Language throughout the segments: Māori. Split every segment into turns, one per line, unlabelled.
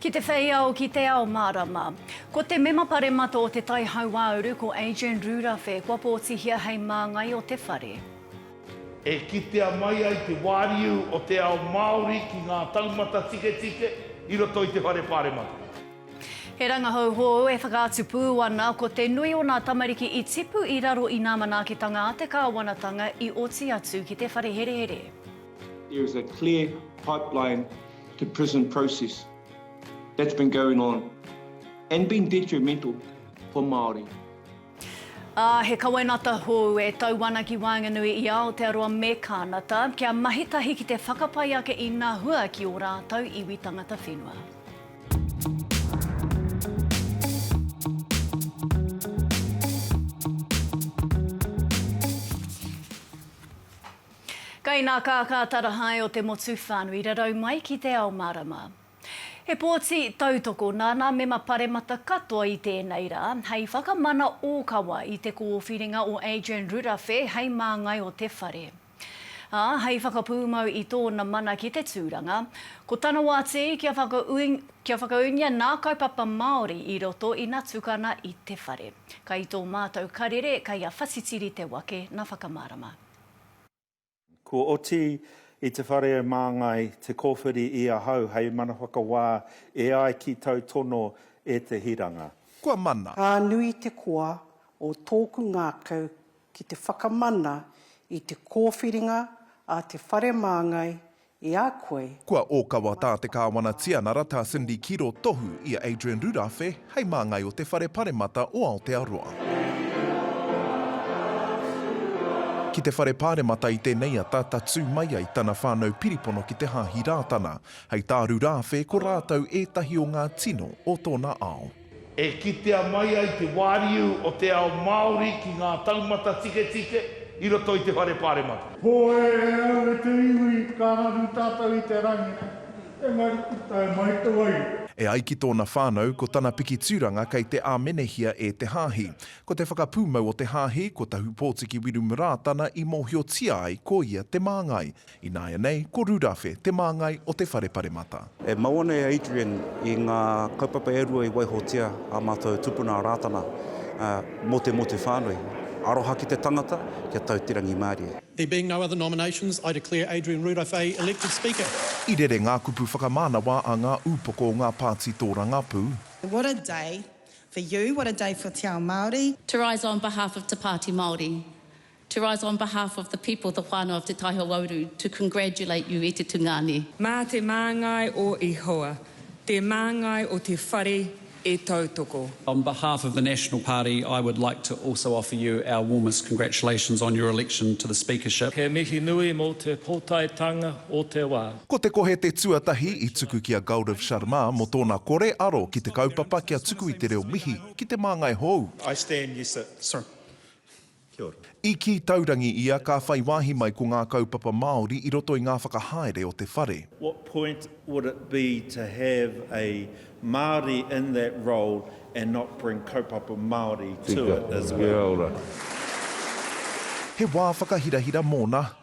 Ki te whei ao, ki te ao mārama. Ko te Mema Paremata o Te Tai Hauāuru, ko Adrian Rūrawhe, kua pōtihia hei māngai o te whare. E
kitea mai ai te wāriu o te ao Māori ki ngā taumata tiketike i roto i te Whare Pāremata. He rangahau
hou e whakaatu pū ana ko te nui o nā tamariki i tipu i raro i nā manaakitanga a te kāwanatanga i oti atu ki te whare herehere. There is
a clear pipeline to prison process that's been going on and been detrimental for Māori. Ā,
he kawenata hou e tau ana ki waenganui i Aotearoa me Kānata, kia mahi tahi ki te whakapai ake i nā hua ki ō rātou iwi tangata whenua. Kai nā kākā tarahae o te motu whānui rarau mai ki Te Ao Mārama. He pōti tautoko nāna mema paremata katoa i tēnei rā hei whakamana ōkawa i te kōwhiringa o Adrian Rurawhe hei māngai o te whare. Ā, hei whakapūmau i tōna mana ki te tūranga, ko tana wā tē kia kia whakaūngia nā kaupapa Māori i roto ina tukana i te whare. Kai tō mātou karere, kai a Whatitiri te wake na whakamārama.
Kua oti i te whare e māngai te kōwhiri i ahau hei mana whakawā e ai ki tau tono e te hiranga. Kua mana. Ka
nui te koa
o tōku ngākau ki te whakamana i te kōwhiringa a te Whare Māngai i a koe. Kua ōkawa tā
te Kāwana Tianara tā Cindy Kiro tohu i a Adrian Rurawhe hei māngai o te Whare Paremata o Aotearoa. Ki te Whare Pāremata i tēnei ata tatū mai ai tana whānau piripono ki te Hāhi Rātana, hei tā Rurawhe ko rātou ētahi o ngā tino o tōna ao. E kitea
mai ai te wāriu o te ao Māori ki ngā taumata tiketike i roto i te Whare Pāremata. Hoi e au
e te iwi, ka raru tātou i te rangi nei, engari i tae mai te wairua. E ai ki tōna
whānau, ko tana piki tūranga kei te āmenehia e te hāhi. Ko te whakapūmau o te hāhi, ko Tahupōtiki Wirumurā tana i mōhiotia ai ko ia te māngai. Ināianei, ko Rurawhe, te māngai o Te Whare Paremata. E mau ana e
Adrian i ngā kaupapa e rua i waihotia ā mātou tupuna a Rātana mō te motu whānui, aroha ki te tangata, kia tau te rangi mārie. There being no other
nominations, I declare Adrian Rurawhei elected Speaker. I rere ngā
kupu whakamānawa a ngā ūpoko o ngā pāti tōrangapū. What a day
for you, what a day for Te Ao Māori. To rise on behalf
of Te Pāti Māori, To rise on behalf of the people, the whānau of Te Tai Hauauru, to congratulate you i te tungāne. Mā te māngai
o Ihowa, te māngai o te whare e tautoko. On behalf of the
National Party, I would like to also offer you our warmest congratulations on your election to the Speakership. He mihi nui mō
te pōtaetanga o te wā. Ko Te Kohe te
tuatahi i tuku ki a Gaurav Sharma mō tōna kore aro ki te kaupapa kia tuku i te reo mihi ki te māngai hou. I stand, yes sir.
Sir. Kia ora. I kī taurangi
ia ka whai wāhi mai ko ngā kaupapa Māori i roto i ngā whakahaere o te whare. What point
would it be to have a Māori in that role and not bring kaupapa Māori to it as well? Kia ora.
He wā whakahirahira mōna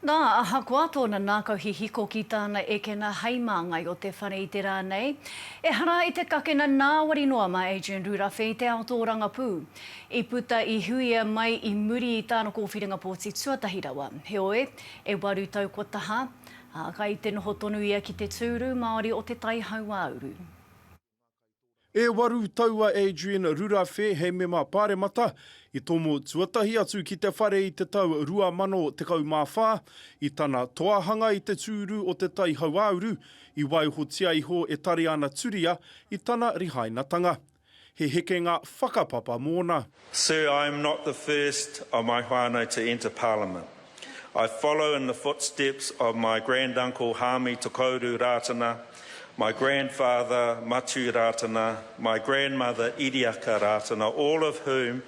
Nā, ahakoa tōna nākau hihiko ki tāna ekena hei māngai o te whare i te rā nei, ehara i te kakena nāwari noa mā Adrian Rurawhe i te ao tōrangapū. I puta i Huia mai i muri i tāna kōwhiringa pōti tuatahi rawa. Heoi, e waru tau kua taha, ā, kai te noho tonu ia ki te tūru Māori o Te Tai Hauāuru.
E waru tau a Adrian Rurawhe hei mema Pāremata, i tomo tuatahi atu ki te whare i te tau 2014, i tana toahanga i te tūru o Te Tai Hauāuru, i waihotia iho e Tariana Turia i tana rihainatanga. He hekenga whakapapa mōna. Sir, I am not
the first of my whānau to enter Parliament. I follow in the footsteps of my grand uncle Hāmi Tokouru Rātana, my grandfather Matiu Rātana, my grandmother Iriaka Rātana, all of whom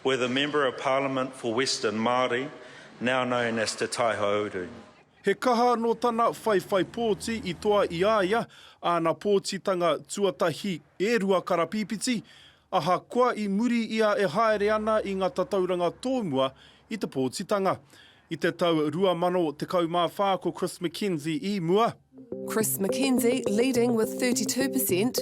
were the Member of Parliament for Western Māori, now known as Te Tai Hōuru. He
kaha anō tana whaiwhai pōti i toa i a ia āna pōtitanga tuatahi e rua karapīpiti, Ahakoa i muri i a e haere ana i nga tatauranga tōmua i te pōtitanga. I te tau 2014 ko Chris McKenzie i mua. Chris McKenzie
leading with 32 per cent,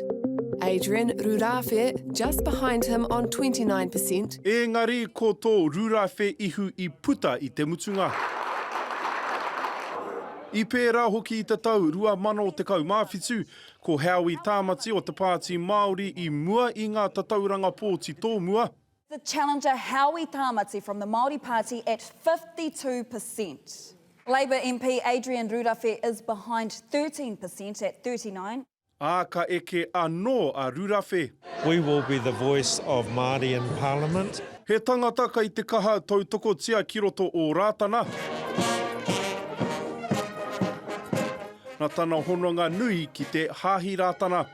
Adrian Rurāwhe just behind him on 29 per cent. Ēngari ko
tō Rurāwhe ihu i puta i te mutunga. I pērā hoki i te tau 2017 Ko Howie Tāmati o te Pāti Māori i mua i ngā tatauranga pōti tōmua. The challenger
Howie Tāmati from the Māori Party at 52 per cent. Labour MP Adrian Rurawhe is behind 13 per cent at 39. Ā, ka eke
anō a Rurawhe. We will be the
voice of Māori in Parliament. He tangata
kei te kaha tautokotia ki roto o Rātana. Nā tana hononga nui ki te Hāhi Rātana,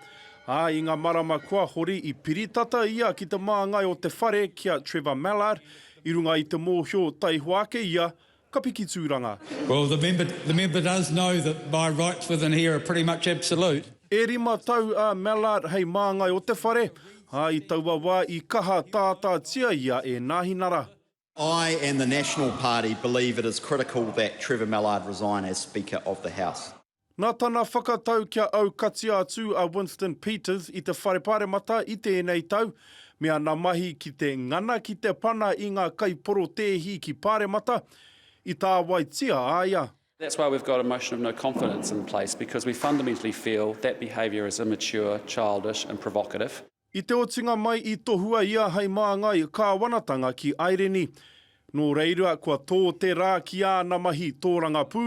ā, i ngā marama kua hori i piri tata ia ki te māngai o te whare ki a Trevor Mallard i runga i te mōhio taihoa ake ia ka piki tūranga. Well, the member,
the member does know that my rights within here are pretty much absolute. E rima tau
a Mallard hei māngai o te whare, ā, i taua wā i kaha tātātia ia e Nāhinara. I and
the National Party believe it is critical that Trevor Mallard resign as Speaker of the House. Nā tana
whakatau kia aukatia atu a Winston Peters i te Whare Pāremata i tēnei tau, me ana mahi ki te ngana ki te pana i ngā kaiporotēhi ki Pāremata, i tāwaitia a ia. That's why we've got a
motion of no confidence in place, because we fundamentally feel that behaviour is immature, childish and provocative. I te otinga
mai i tohua ia hei māngai kāwanatanga ki Aireni. Nō reira kua tō te rā ki āna mahi tōrangapū.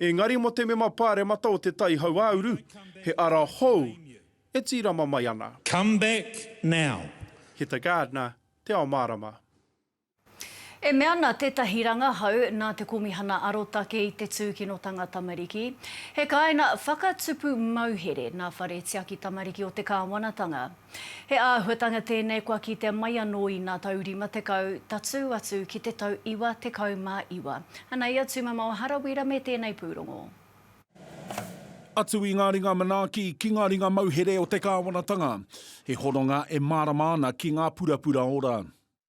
Engari mō te mema pāremata o Te Tai Hauāuru, he ara hou e tīrama mai ana. Come back
now! Heta Gardner,
Te Ao Mārama.
E mea ana tētahi rangahau nā te Komihana Arotake i te Tūkinotanga Tamariki, he kāinga whakatupu mauhere nā Whare Tiaki Tamariki o te Kāwanatanga. He āhuatanga tēnei kua kitea mai anō i ngā tau 50 tatū atu ki te tau 99. Anei a Tūmamao Harawira me tēnei pūrongo.
Atu i ngā ringa manaaki ki ngā ringa mauhere o te Kāwanatanga, he hononga e mārama ana ki ngā purapura ora.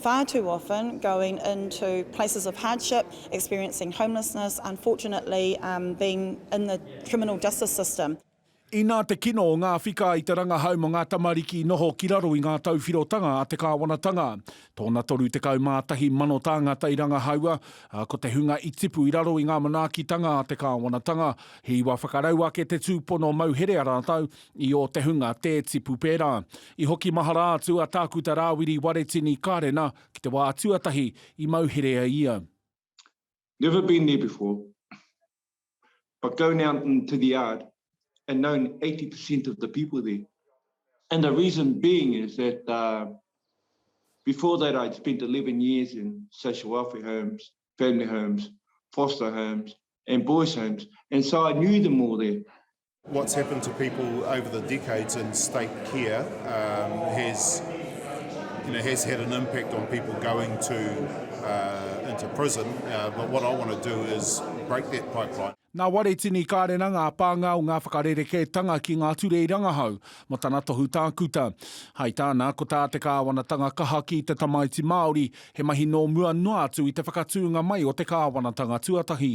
far too often going into places of hardship, experiencing homelessness, unfortunately um being in the criminal justice system. Inā te
kino o ngā whika i te rangahau mō ngā tamariki i noho ki raro i ngā tauwhirotanga a te kāwanatanga. Tōna 31 mano tāngata i rangahaua, ā, ko te hunga i tipu i raro i ngā manaakitanga a te kāwanatanga, he iwa whakarau ake te tūpono mauhere a rātou, I ō te hunga tē tipu pērā. I hoki mahara atu a Tākuta Rāwiri Waretini Kārena ki te wā tuatahi i mau herea ia. Never
been there before but go now to the yard and known 80 per cent of the people there and the reason being is that before that I'd spent 11 years in social welfare homes, family homes, foster homes and boys homes and so I knew them all there What's happened to
people over the decades in state care um, has, you know, has had an impact on people going to uh, into prison. Uh, but what I want to do is break that pipeline. Nā Waretini
Kārena ngā pānga o ngā whakarerekētanga ki ngā ture i rangahau mō tana tohu tākuta. Hai tāna, ko tā te kāwanatanga kaha ki te tamaiti Māori, he mahi nō mua noa atu i te whakatūnga mai o te kāwanatanga tuatahi.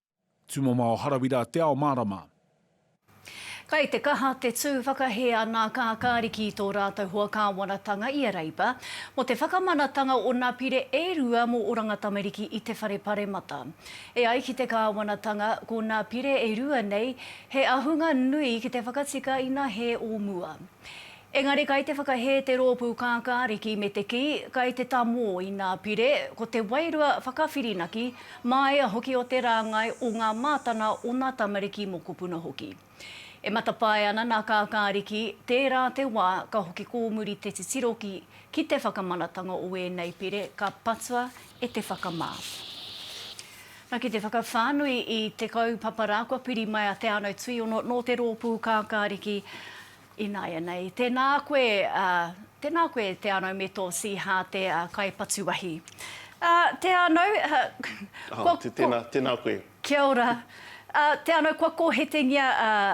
Tumamao
Harawira Te Ao Mārama.
Kai te kaha te tū whakahē a nā Kākāriki i tō rātou hoa kāwanatanga i a Reipa, mō te whakamanatanga o nā pire e rua mō Oranga Tamariki i te Whare Paremata. E ai ki te kāwanatanga, ko nā pire e rua nei, he ahunga nui ki te whakatika ina hē o mua. Engari kai te whakahē te rōpū kākāriki me te kī, kai te tamō i nā pire, ko te wairua whakawhirinaki, māia hoki o te rāngai o ngā mātana o nā tamariki mokopuna hoki. E matapae ana nā kākāriki, tērā te wā ka hoki kōmuri te titiro ki ki te whakamanatanga o ēnei pire ka patua e te whakamā. Na ki te whakawhānui i te kaupapa rā kua piri mai a Te Anau Tuiono nō te rōpū kākāriki, Ināianei, tēnā koe, tēnā koe Te Anau me tō Siha te kai patu wahi. Te Anau, kua. Tēnā, tēnā
koe. Kia ora.
Te Anau, kua kōhetengia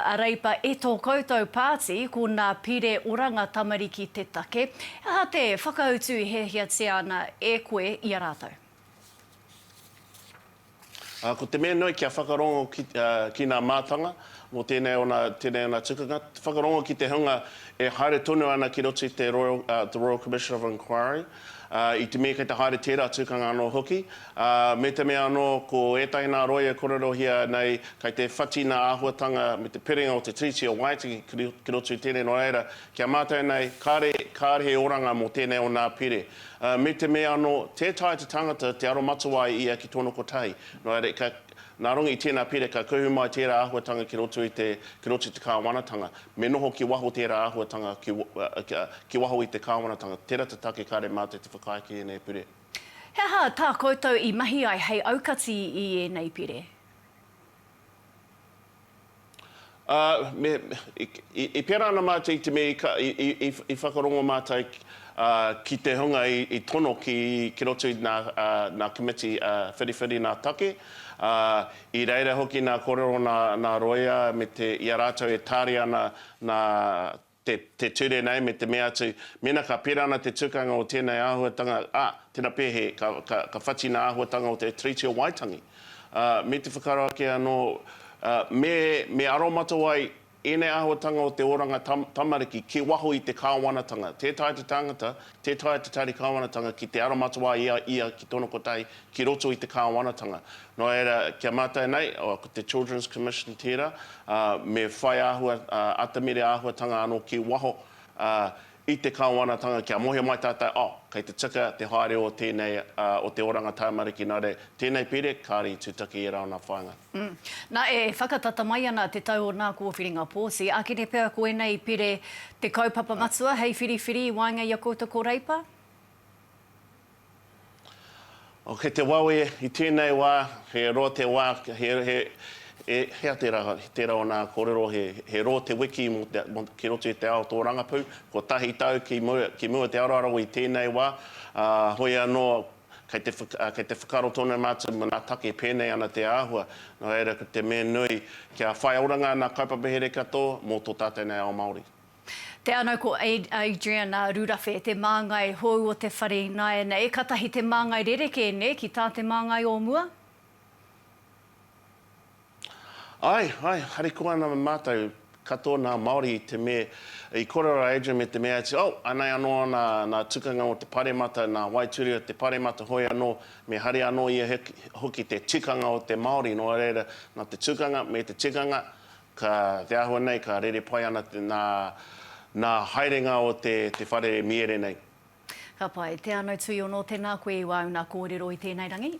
a Reipa e tō koutou pāti, ko nā Pire Oranga Tamariki te take. He aha te whakautu i hiahiatia ana e koe i a rātou?
Ko te mea nui kia whakarongo ki nā mātanga mō tēnei ona, tēnei ona tukunga, whakarongo ki te hunga e haere tonu ana ki roto i te Royal, the Royal Commission of Inquiry, i te mea kei te haere tērā tukanga anō hoki, me te mea anō ko ētahi nā roia e kōrerohia nei kei te whati nā āhuatanga me te piringa o te Tiriti o Waitangi ki roto i tēnei nō reira, kia mātau nei kāre, kāre he oranga mō tēnei ona pire. Ā, me te mea anō, tē taea te tangata te aromatawā e ia ki tōna kotahi. Nō reira, ka, nā runga i tēnā pire, ka kuhu mai tērā āhuatanga ki roto i te, ki roto i te Kāwanatanga. Me noho ki waho tērā āhuatanga ki, ā, ki waho i te Kāwanatanga. Tērā te take kāre mā te te whakaae ki ēnei pire. He aha tā
koutou i mahi ai hei aukati i ēnei pire?
Ā, me, i, i pērā ana mātou i te mea i ka, i, i, i, i whakarongo mātou, ā, ki te hunga i, i tono ki, ki roto i nā, ā, nā Komiti, ā, Whiriwhiri nā Take, ā, i reira hoki nā kōrero nā, nā Roia me te, i a rātou e tāria ana nā te, te ture nei me te mea atu, mēnā ka pērā ana te tukanga o tēnei āhuatanga, ā, tena pēhē, ka, ka, ka whatina āhuatanga o te Treaty o Waitangi. Ā, me te whakaaro ake anō, ā, me, me aromatau ai ēnei āhuatanga o te oranga tam, tamariki ki waho i te Kāwanatanga. Tē taea te tāngata Tē taea te Tari Kāwanatanga ki te aromatawai i a ia ki tōna kotahi ki roto i te Kāwanatanga. Nō reira, ki a mātou nei, ko te Children's Commission tērā, ā, me whai āhua, ā, atamire āhuatanga anō ki waho, ā, i te Kāwanatanga kia mōhio mai tātou, oh, kei te tika te haere o tēnei, ā, o te oranga tamariki, nā reira, tēnei pire, kāre i tūtaki e rāna whāinga. Hm. Na, e
whakatata mai ana te tau o nā kōwhiringa pōti. Akene pea ko ēnei pire te kaupapa matua hei whiriwhiri i waenga i a koutou ko Reipa?
Oh, kei te wawe i tēnei wā, he roa te wā, he, he, he, hea tērā, tērā o nā kōrero, he, he roa te wiki mō te, mō, ki roto i te ao tōrangapū, kotahi tau ki mua, ki mua te aroaro i tēnei wā, ā, hoi anō, Kei te, kei te whakaaro tonu mātou mona take pēnei ana te āhua, nō reira ko te mea nui kia whai oranga ana kaupapa here katoa mō tō tātou nei ao Māori. Te ano
ko Adrian Rurafe, te māngai hou o te whare ināianei, katahi te māngai rerekē nē ki tā te māngai o mua?
Ae, ae, harikoa ana me matou katoa na Maori i te me, i korero a Adrian me te me atu, oh, anei ano na, na tukanga mo te paremata, na waituri o te paremata hoi ano, me hari ano ia hoki te tikanga o te Maori, no reira, na te tukanga, me te tikanga, ka, te ahua nei ka rere pai ana na, na haerenga o te, te whare miere nei. Ka pai,
te ano tuiono, tena koe i wa una korero i tenei rangi.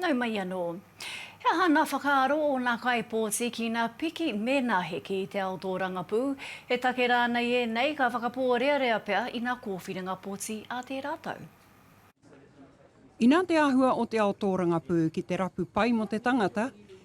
Nau mai anō. He aha ngā whakaaro o ngā kaipōti ki ngā piki me ngā hiki i te ao tōrangapū? He take rānei ēnei ka whakapōrearea pea i ngā kōwhiringa pōti a tērā tau?
Inā te āhua o te ao tōrangapū ki te rapu pai mō te tangata,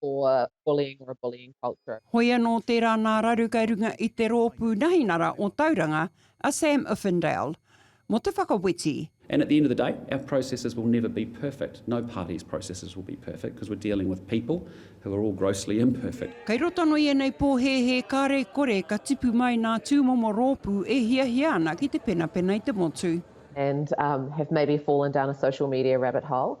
for bullying or a bullying culture. Hoi anō tērā
nā raru kei runga i te rōpū nahinara o Tauranga, a Sam Uffindale, mō te whakaweti. And at the end of the day,
our processes will never be perfect, no party's processes will be perfect because we're dealing with people who are all grossly imperfect. Kei roto anō i ēnei
pōhēhē ka rekore ka tipu mai nā tūmomo rōpū e hiahia ana ki te penapena i te motu. and
have maybe fallen down a social media rabbit hole,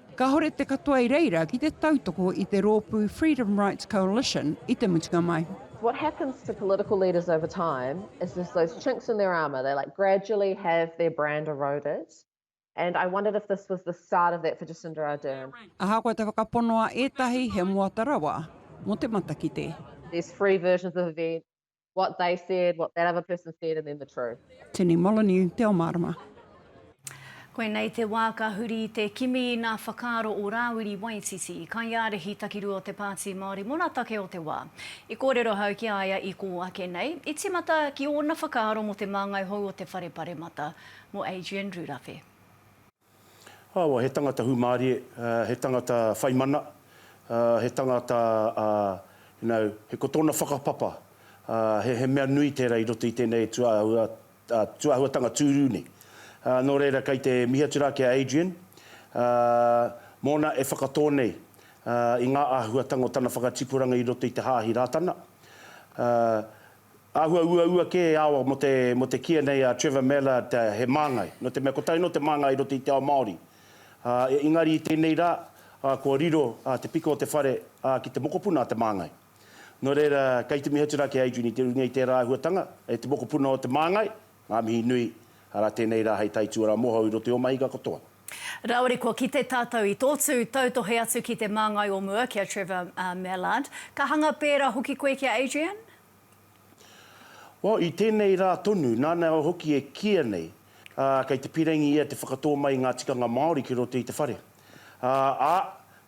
Kāhore te katoa i reira ki te tautoko i te rōpū Freedom Rights Coalition i te mutunga mai. What happens to
political leaders over time is there's those chinks in their armour, they like gradually have their brand eroded and I wondered if this was the start of that for Jacinda Ardern. Ahakoa te whakapono
a ētahi he moata rawa mō te matakite. There's three versions
of events, what they said, what that other person said, and then the truth. Tini Molyneux,
Te Ao Marama.
Koinei te wā ka huri i te kimi i nā whakaaro o Rāwiri Waititi, kaiārahi takirua o te Pāti Māori mō nā take o te wā. I kōrero ahau ki a ia i kō ake nei, i tīmata ki ōna whakaaro mō te māngai hou o te Whare Paremata, mō Adrian Rurawhe.
Awa, he tangata hūmārie, he tangata whai mana, he tangata, you know, he ko tōna whakapapa, he mea nui tērā i roto i tēnei tūāhuatanga tūrū nei. Nō reira, kei te mihi atu rā ki a Adrian, mōna e whakatō nei i ngā āhuatanga o tana whakatipuranga i roto i te Hāhi Rātana. Āhua uaua kē e awa mō te mō te kīa nei a Trevor Mallard he māngai, nō te mea ko taino te māngai i roto i te ao Māori. Ā, engari i tēnei rā, ā, kua riro ā te piko o te whare ā ki te mokopuna a te māngai. Nō reira, kei te mihi atu rā ki a Adrian i te runga i tērā āhuatanga, e te mokopuna o te māngai, ngā mihi nui, arā tēnei rā hei taituarā mohou i roto i ō mahinga katoa. Rāore kua
kite tātou i tō tū tautohe atu ki te māngai o mua ki a Trevor Mallard. Ka hanga pērā hoki koe ki a Adrian? Well,
i tēnei rā tonu, nāna hoki e kīia nei, ā, kei te pīrangī ia te whakatō mai i ngā tikanga Māori ki roto i te whare. Ā, ā,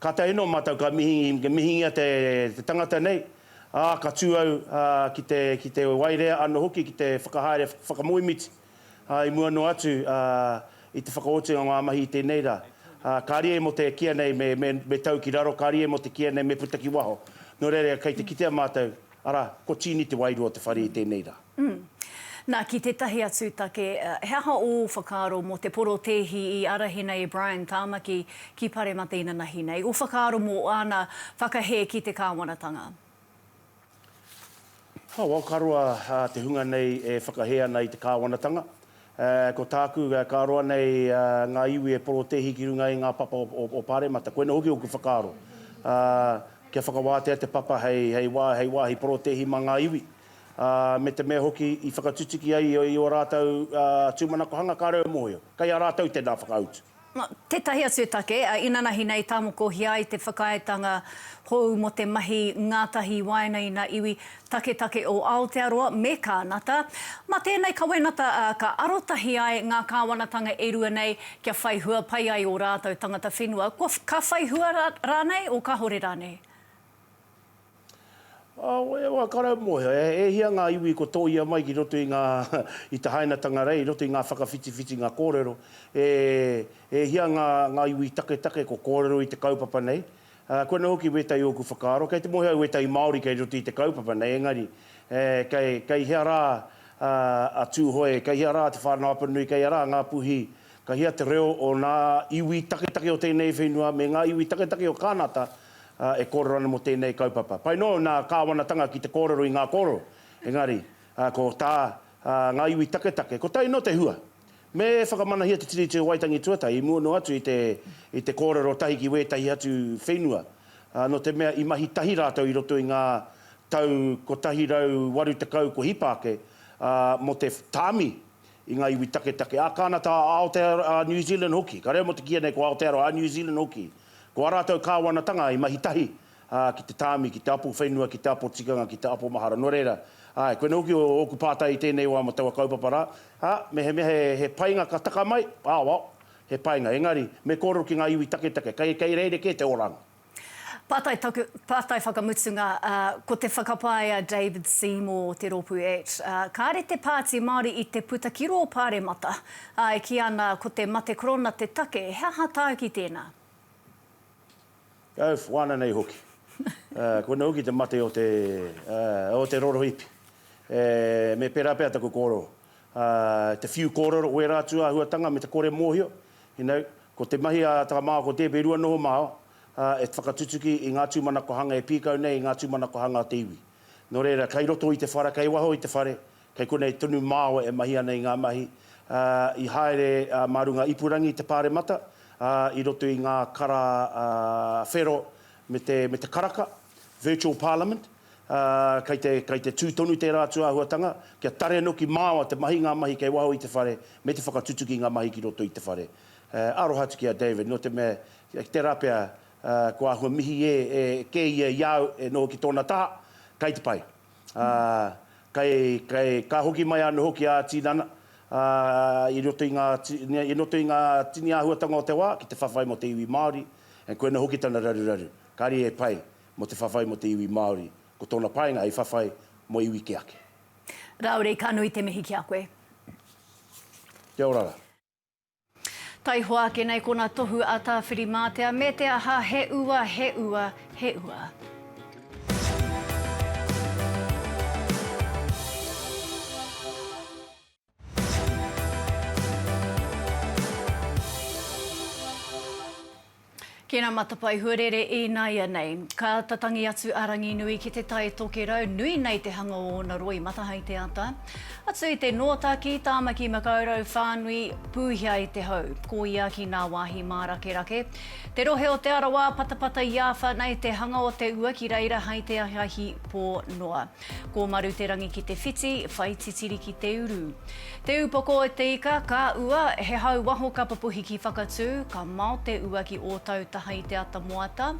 ka tae noa mātou ka mihi, ka mihingia te, te tangata nei, ā, ka tū au, ā, ki te, ki te waerea anō hoki ki te whakahaere whakamoemiti. ā, i mua noa atu, ā, i te whakaotinga o ngā mahi i tēnei rā, ā, ka rīe mō te kīa nei me, me, me tau ki raro, ka rīe mō te kīa nei me puta ki waho. Nō reira, kei te kitea mātou, arā, ko Tīni te wairua o te whare i tēnei rā. Umm. Nā, ki
tētahi atu take, he aha ō whakaaro mō te porotēhi i ārahi nei e Brian Tāmaki ki Paremata inanahi nei, ō whakaaro mō āna whakahē ki te kāwanatanga?
Ho, wau ka roa te hunga nei e whakahē ana i te Kāwanatanga. Ko tāku ka roa nei ngā iwi e porotēhi ki runga i ngā papa o Pāremata. Koinei hoki ōku whakaaro. Kia whakawātea te papa hei wāhi porotēhi mā ngā iwi. Me te mea hoki i whakatutuki ai i ō rātou tūmanakohanga kāore au e mōhio. Kei a rātou tēnā whakautu. Tētahi atu
e take, a inanahi nei tāmokohia ai te whakaaetanga hou mō te mahi ngātahi waena ina iwi taketake o Aotearoa me Kānata. Mā tēnei kawenata ā, ka arotahi ai ngā kāwanatanga e rua nei kia whai hua pai ai ō rātou tangata whenua, kua, ka whai hua rānei o kāore rānei.
Wai wā karau mōhio, e hia ngā iwi kua tōia mai ki roto i ngā, i te hainatanga rei, i roto i ngā whakawhitiwhitinga kōrero, e hia ngā iwi taketake kua kōrero i te kaupapa nei. Koinā hoki wētahi ōku whakaaro, kei te mōhio au wētahi Māori kei roto i te kaupapa nei, engari kei hea rā a Tūhoe, kei hea rā Te Whānau Apanui, kei hea rā Ngāpuhi, ka hea te reo o ngā iwi taketake o tēnei whenua me ngā iwi taketake o Kānata, e kōrero ana mō tēnei kaupapa. Pai noa nā Kāwanatanga ki te kōrero i ngā kōrero, engari, ko tā ngā iwi taketake, ko tai noa te hua. Me whakamanahia te Tiriti o Waitangi Tuatahi i mua noa atu i te, i te kōrero tahi ki wētahi atu whenua, nō te mea i mahi tahi rātou i roto i ngā tau 180 kua hipa ake, ā, mō te tāmi i ngā iwi taketake, ā, kāna tā Aotearoa, ā, New Zealand hoki. Ka reo mō te kīia nei ko Aotearoa, ā, New Zealand hoki. Ko ā rātou kāwanatanga i mahi tahi, ā, ki te tāmi, ki te apo whenua, ki te apo tikanga, ki te apo mahara. Nō reira, āe, koinei hoki ōku pātai i tēnei wā mō taua kaupapa rā, ā, mehemea he, he painga ka taka mai, aoao, he painga, engari, me kōrero ki ngā iwi taketake, kei, kei rerekē te oranga. Pātai taku,
pātai whakamutunga, ā, ko te whakapae a David Seymour o te rōpū at, ā, kāre te Pāti Māori i te puta ki rō Pāremata, Ā, e kī ana, Ko te mate korona te take, he aha tāuki tēnā? Kau
whana nei hoki. Ā, koina hoki te mate o te, ā, o te rorohipi. E, me pērā pea taku kōrero. Ā, te whiu kōrero o ērā atu āhuatanga me te kore mōhio, you know, ko te mahi a Tara Mā Ako Tē Berua noho māua, ā, e whakatutuki i ngā tūmanako hanga e pīkau nei i ngā tūmanako hanga o te iwi. Nō reira, kei roto i te whara, kei waho i te whare, Kei konei tonu māua e mahi ana i ngā mahi, ā, i haere mā runga ipurangi i te Pāremata, ā, i roto i ngā kara whero me te, me te karaka, virtual parliament, ā, kei te, kei te tū tonu tērā atu āhuatanga, kia tare noki māua te mahi, ngā mahi kei waho i te whare, me te whakatutuki i ngā mahi ki roto i te whare. Aroha atu ki a David, nō te mea, ki tērā pea, kua āhua mihi e, e kē ia i a au e noho ki tōna taha, kei te pai. ā, kei, kei, ka hoki mai anō hoki ā-tinana, ā, i roto i ngā, i roto i ngā tini āhuatanga o te wā, ki te whawhai mō te iwi Māori, and koinā hoki tana raruraru, kāre e pai mō te whawhai mō te iwi Māori, ko tōna painga hei whawhai mō iwi kē ake. Rāore, ka
nui te mihi ki a koe.
Kia ora rā.
Taihoa ake nei kona tohu a Tawhirimātea me te aha he ua, he ua, he ua. Ki ngā matapae huarere ināianei. Ka āta tangi atu a Ranginui ki te Tai Tokerau, nui nei te hanga o ōna roi mata hai te ata. Atu i te Nōtaki, Tāmaki Makaurau whānui, pūhia i te hau. Ko ia ki ngā wāhi mārakerake. Te rohe o Te Arawa, patapata i āwha nei te hanga o te ua ki reira hai te ahiahi pō noa. Ko Maruterangi ki te whiti, whai titiri ki te uru. Te upoko e te ika, ka ua, he hau waho ka papuhi ki Whakatū, ka mao te ua ki Ōtautaha i te ata moata.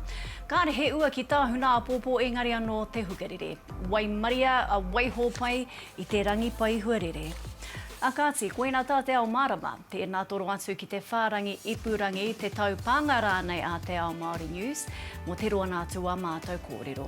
Kāre he ua ki Tāhuna āpōpō engari anō te hukarere. Waimaria a Waihōpai i te rangi pai huarere. A kāti, koina tā te ao mārama. Tēnā toro atu ki te whārangi ipurangi, te taupānga rānei a Te Ao Māori News mō te roanga atu o ā mātou kōrero.